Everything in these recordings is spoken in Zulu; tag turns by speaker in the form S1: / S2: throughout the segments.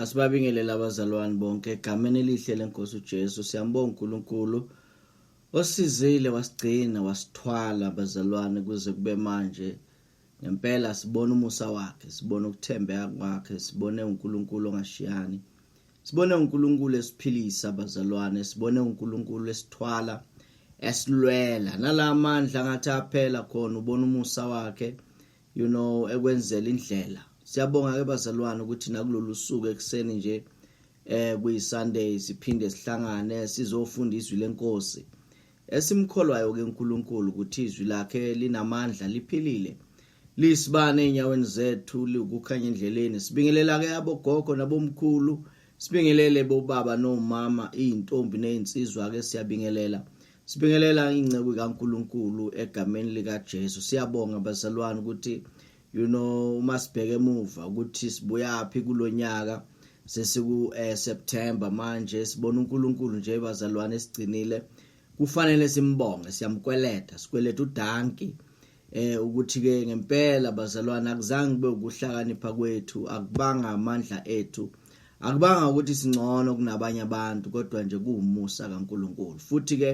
S1: asibabingelele abazalwane bonke egameni elihle lenkosi uJesu siyambonga uNkulunkulu Osizile wasigcina wasithwala bazalwane kuze kube manje ngempela sibona umusa wakhe sibona ukuthembeka kwakhe sibone uNkulunkulu ongashiyani sibone uNkulunkulu esiphilisa bazalwane sibone uNkulunkulu esithwala esilwela nalamandla ngathi aphela khona ubona umusa wakhe you know ekwenzela indlela siyabonga ke bazalwane ukuthi nakulolu suku ekuseni nje eh kuyisunday siphinde sihlangane sizofunda izwi lenkosi esimkholwayo ke uNkulunkulu ukuthi izwi lakhe linamandla liphilile lisibane enyaweni zethu likukhanya endleleni sibingelela ke abogogo nabomkhulu sibingelele bobaba nomama izintombi nezinsizwa ke siyabingelela Sibingelela inceku kaNkuluNkulu egameni lika Jesu. Siyabonga bazalwane ukuthi you know uma sibheke emuva ukuthi sibuyaphi kulonyaka sesiku eh, September manje sibona uNkuluNkulu nje bazalwane sigcinile. Kufanele simbonge, siyamkweleta, sikweleta uDanki. eh ukuthi ke ngempela bazalwane akuzange kube ukuhlakanipha kwethu akubanga amandla ethu akubanga ukuthi singcono kunabanye abantu kodwa nje kuwumusa kaNkuluNkulu futhi ke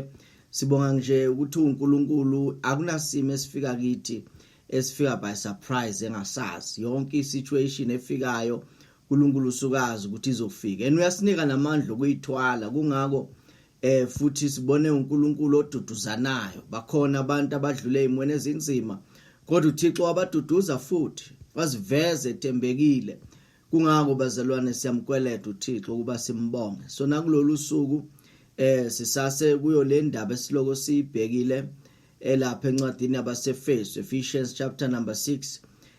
S1: sibonga nje ukuthi uNkuluNkulu akunasimo esifika kithi esifika by surprise engasazi yonke isituation efikayo uNkulunkulu usukazi ukuthi izofika and uyasinika namandla okuyithwala kungako Eh futhi sibone uNkulunkulu oduduzanayo. Bakhona abantu abadlule imweni ezinzima kodwa uThixo wabaduduza futhi waziveza etembekile. Kungako bazalwane siyamkweleta uThixo ukuba simbonge. So nakulolu suku eh sisase kuyo le ndaba esiloko siyibhekile elapha encwadini yabaseFesu Ephesians chapter number 6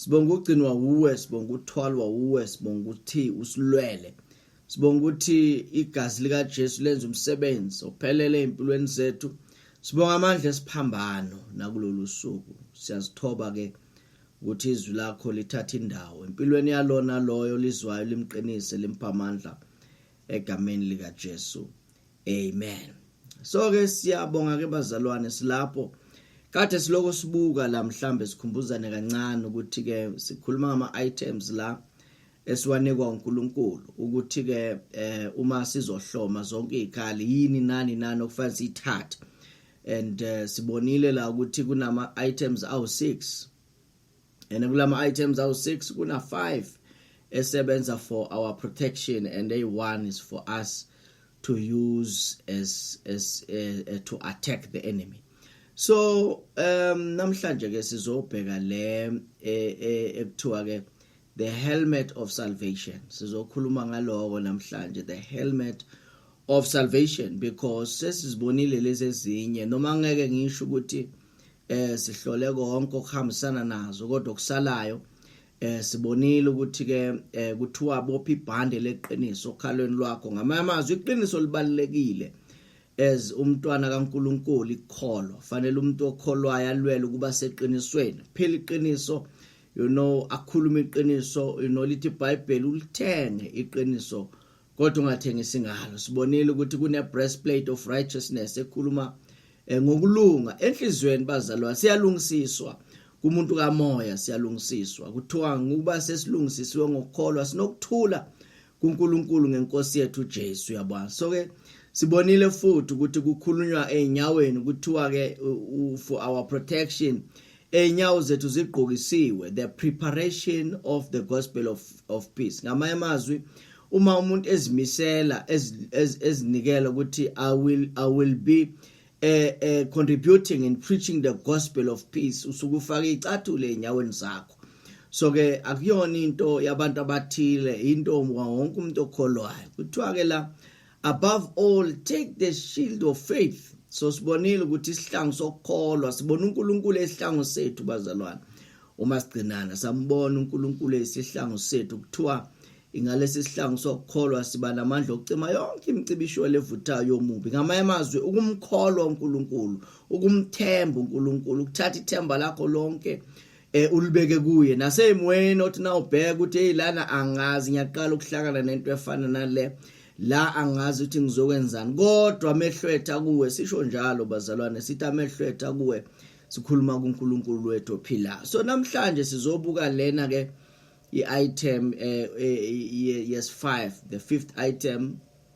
S1: sibonga ukugcinwa wuwe sibonga ukuthwalwa wuwe sibonga ukuthi usilwele sibonga ukuthi igazi likaJesu lenza umsebenzi ophelele empilweni zethu sibonga amandla esiphambano nakulolu suku siyazithoba ke ukuthi izwi lakho lithatha indawo empilweni yalona loyo lizwayo limqinise limpha amandla egameni likaJesu amen so ke siyabonga ke bazalwane silapho kade siloko sibuka la mhlambe sikhumbuzane kancane ukuthi ke sikhuluma ngama items la esiwanikwa uNkulunkulu ukuthi ke eh, uma sizohloma zonke izikhali yini nani nani okufanele sithathe and uh, sibonile la ukuthi kunama items awu 6 and kulama items awu 6 kuna 5 esebenza for our protection and a one is for us to use as as uh, to attack the enemy so um namhlanje ke sizobheka le eh, eh, ekuthiwa ke the helmet of salvation sizokhuluma ngaloko namhlanje the helmet of salvation because sesizibonile lezi ezinye noma ngeke ngisho ukuthi eh sihlole konke okuhambisana nazo kodwa okusalayo eh sibonile ukuthi ke eh, kuthiwa bophi ibhande leqiniso okhalweni lwakho ngamanye amazwi iqiniso libalekile as umntwana kaNkuluNkulu ikholo fanele umuntu okholwayo alwele ukuba seqinisweni phela iqiniso you know akhuluma iqiniso you know lithi iBhayibheli ulithenge iqiniso kodwa ungathengisi ngalo sibonile ukuthi kune breastplate of righteousness ekhuluma eh, ngokulunga enhlizweni bazalwa siyalungisiswa kumuntu kamoya siyalungisiswa kuthiwa ngokuba sesilungisisiwe ngokukholwa sinokuthula kuNkulunkulu ngenkosi yethu Jesu yabona so ke sibonile futhi ukuthi kukhulunywa einyaweni kuthiwa ke for our protection Enyawo zethu zigqokisiwe the preparation of the gospel of, of peace ngamanye amazwi uma umuntu ezimisela ezinikela ukuthi i will i will be uh, uh, contributing in preaching the gospel of peace usuke ufaka icathule enyaweni zakho so ke akuyona into yabantu abathile into wonke umuntu okholwayo kuthiwa ke la above all take the shield of faith so sibonile ukuthi isihlangu sokukholwa sibona uNkulunkulu esihlangu sethu bazalwane uma sigcinana sambona uNkulunkulu esihlangu sethu kuthiwa ingalesi sihlangu sokukholwa siba namandla okucima yonke imicibisho levuthayo yomubi ngamanye amazwi ukumkholwa uNkulunkulu ukumthemba uNkulunkulu ukuthatha ithemba lakho lonke eh ulibeke kuye nasemoyeni othi na ubheka ukuthi hey lana angazi ngiyaqala ukuhlangana nento efana nale la angazi ukuthi ngizokwenzani kodwa amehlo etha kuwe sisho njalo bazalwane sithi amehlo etha kuwe sikhuluma kuNkulunkulu wethu ophila so namhlanje sizobuka lena ke i-item eh, eh, yes 5 the fifth item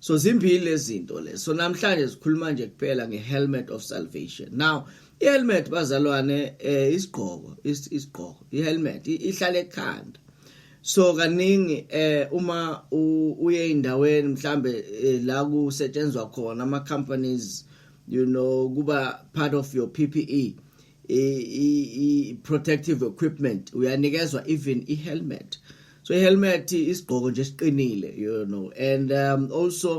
S1: so zimbili lezinto le so namhlanje sikhuluma nje kuphela ngehelmet of salvation now ihelmet bazalwane eh isigqoko isigqoko ihelmet ihlale ekhanda so kaningi eh uma uye indaweni mhlambe eh, la kusetshenzwa khona ama companies you know kuba part of your PPE i protective equipment uyanikezwa even i helmet so i helmet isigqoko nje siqinile you know and um, also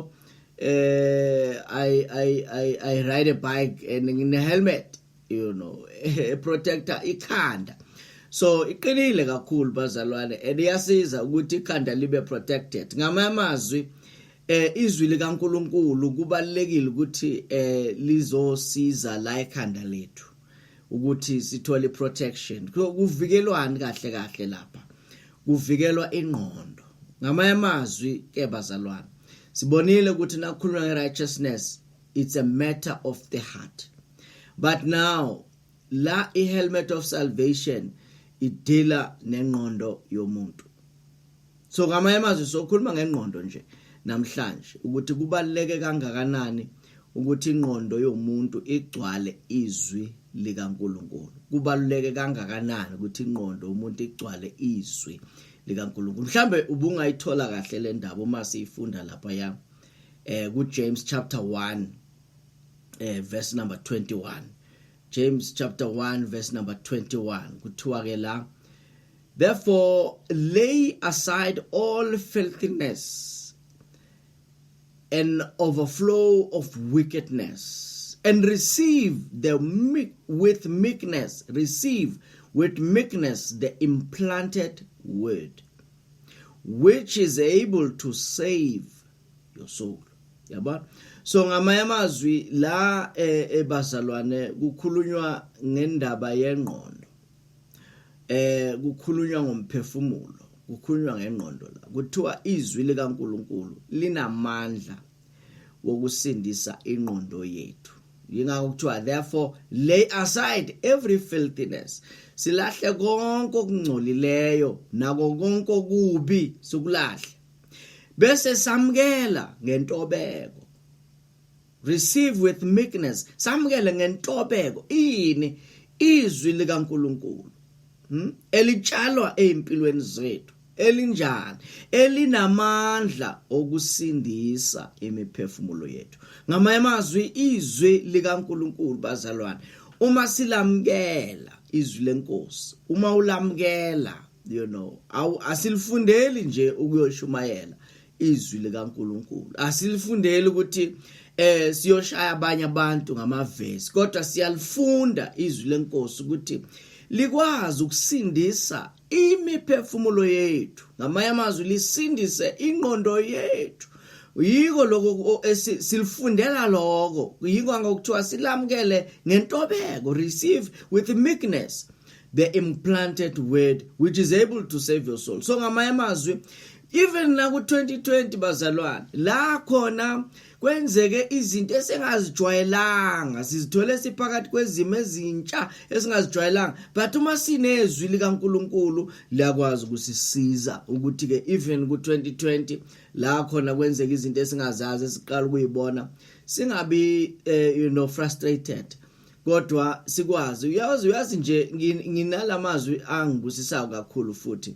S1: uh, I, I, I, I ride a bike and ngine helmet you know protector ikhanda so iqinile kakhulu bazalwane and iyasiza ukuthi ikhanda libe protected ngamanye amazwi Eh izwi likaNkuluNkulu kubalekile ukuthi eh lizosiza la ekhanda lethu ukuthi sithole protection kuvikelwani kahle kahle lapha kuvikelwa ingqondo ngamanye amazwi ke bazalwane sibonile ukuthi nakukhulunywa ngerighteousness it's a matter of the heart but now la ihelmet of salvation idila nengqondo yomuntu so ngamanye amazwi sokhuluma ngengqondo nje namhlanje ukuthi kubaluleke kangakanani ukuthi ingqondo yomuntu igcwale izwi likaNkuluNkulu kubaluleke kangakanani ukuthi ingqondo umuntu igcwale izwi likaNkuluNkulu mhlambe ubungayithola kahle le ndaba uma siyifunda lapha ya eh ku James chapter 1 eh verse number 21 James chapter 1 verse number 21 kuthiwa ke la Therefore, lay aside all filthiness and overflow of wickedness, and receive the meek, with meekness, receive with meekness the implanted word, which is able to save your soul. Yaba? So ngamanye amazwi la eh, ebazalwane kukhulunywa ngendaba yengqondo eh kukhulunywa ngomphefumulo kukhulunywa ngengqondo la kuthiwa izwi likaNkuluNkulu linamandla wokusindisa ingqondo yethu yingakho kuthiwa therefore lay aside every filthiness silahle konke okungcolileyo nako konke okubi sikulahle bese samkela ngentobeko receive with meekness samukele ngentobeko ini izwi likaNkuluNkulu hmm? elitshalwa ezimpilweni zethu elinjani elinamandla okusindisa imiphefumulo yethu ngamanye amazwi izwi likaNkuluNkulu bazalwane uma silamukela izwi lenkosi uma ulamukela you know awu asilifundeli nje ukuyoshumayela izwi likaNkuluNkulu asilifundeli ukuthi eh siyoshaya abanye abantu ngamavesi kodwa siyalifunda izwi lenkosi ukuthi likwazi ukusindisa imiphefumulo yethu ngamanye amazwi lisindise ingqondo yethu yiko lokho silifundela lokho yiko ngokuthiwa silamukele ngentobeko receive with meekness the implanted word which is able to save your soul so ngamanye amazwi even la ku-2020 bazalwane la khona kwenzeke izinto esingazijwayelanga sizithole siphakathi kwezimo ezintsha esingazijwayelanga but uma sinezwi likaNkuluNkulu liyakwazi ukusisiza ukuthi ke even ku2020 la khona kwenzeka izinto esingazazi siqala ukuyibona singabi eh, you know frustrated kodwa sikwazi uyazi uyazi nje nginalamazwi angibusisayo kakhulu futhi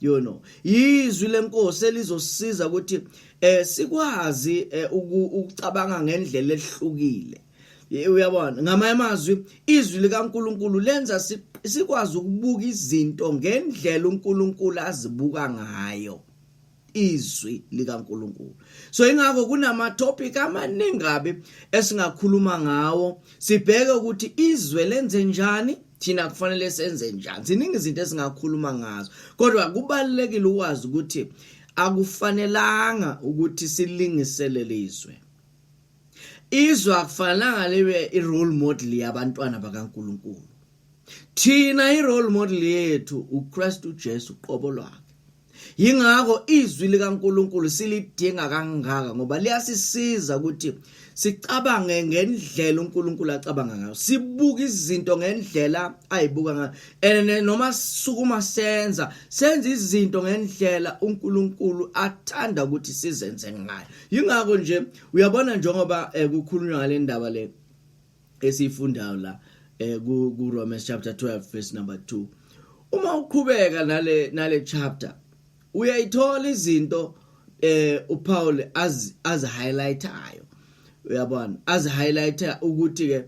S1: you know yizwi lenkosi elizosiza ukuthi eh sikwazi eh, ukucabanga ngendlela ehlukile uyabona ngamanye amazwi izwi likaNkuluNkulu lenza sikwazi ukubuka izinto ngendlela uNkulunkulu azibuka ngayo izwi likaNkuluNkulu so ingakho kunama topic amaningi kabi esingakhuluma ngawo sibheke ukuthi izwe lenze njani thina kufanele senze njani ziningi izinto esingakhuluma ngazo kodwa kubalekile ukwazi ukuthi akufanelanga ukuthi silingiselele izwe izwe akufanelanga libe i-role model yabantwana bakaNkuluNkulu thina i-role model yethu uKristu Jesu qobo lwakhe Yingakho izwi likaNkuluNkulu silidinga kangaka ngoba liyasisiza ukuthi sicabange ngendlela uNkulunkulu acabanga ngayo sibuka izinto ngendlela ayibuka ngayo and noma sukuma senza senza izinto ngendlela uNkulunkulu athanda ukuthi sizenze ngayo yingakho nje uyabona njengoba eh, kukhulunywa ngale ndaba le esiyifundayo la eh ku, ku Romans chapter 12 verse number 2 uma uqhubeka nale nale chapter uyayithola izinto eh uPaul az az highlightayo uyabona az highlighter ukuthi ke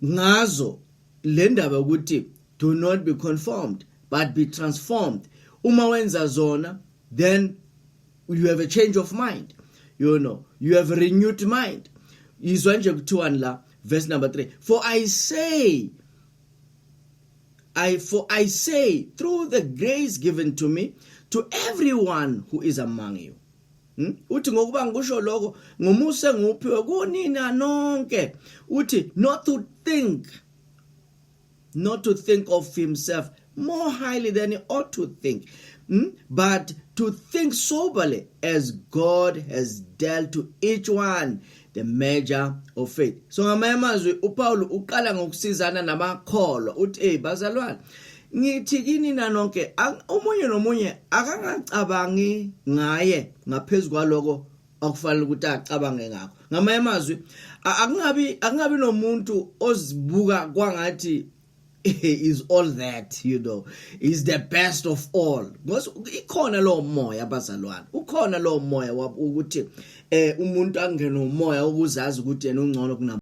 S1: ngazo le ndaba ukuthi do not be conformed but be transformed uma wenza zona then you have a change of mind you know you have a renewed mind izwa nje kuthiwani la verse number 3 for i say I for I say through the grace given to me to everyone who is among you hmm? uthi ngokuba ngikusho lokho ngomuse nguphiwe kunina nonke uthi not to think not to think of himself more highly than he ought to think, hmm? but to think soberly as God has dealt to each one the measure of faith. So ngamanye amazwi uPaul uqala ngokusizana namakholwa uthi hey bazalwane ngithi kini na nonke omunye nomunye akangacabangi ngaye ngaphezulu kwaloko okufanele ukuthi acabange ngakho ngamanye amazwi akungabi akungabi nomuntu ozibuka kwangathi is all that you know is the best of all ngoba ikhona lo moya abazalwane ukhona lo moya ukuthi eh umuntu angene umoya ukuzazi ukuthi yena ungcono kunabo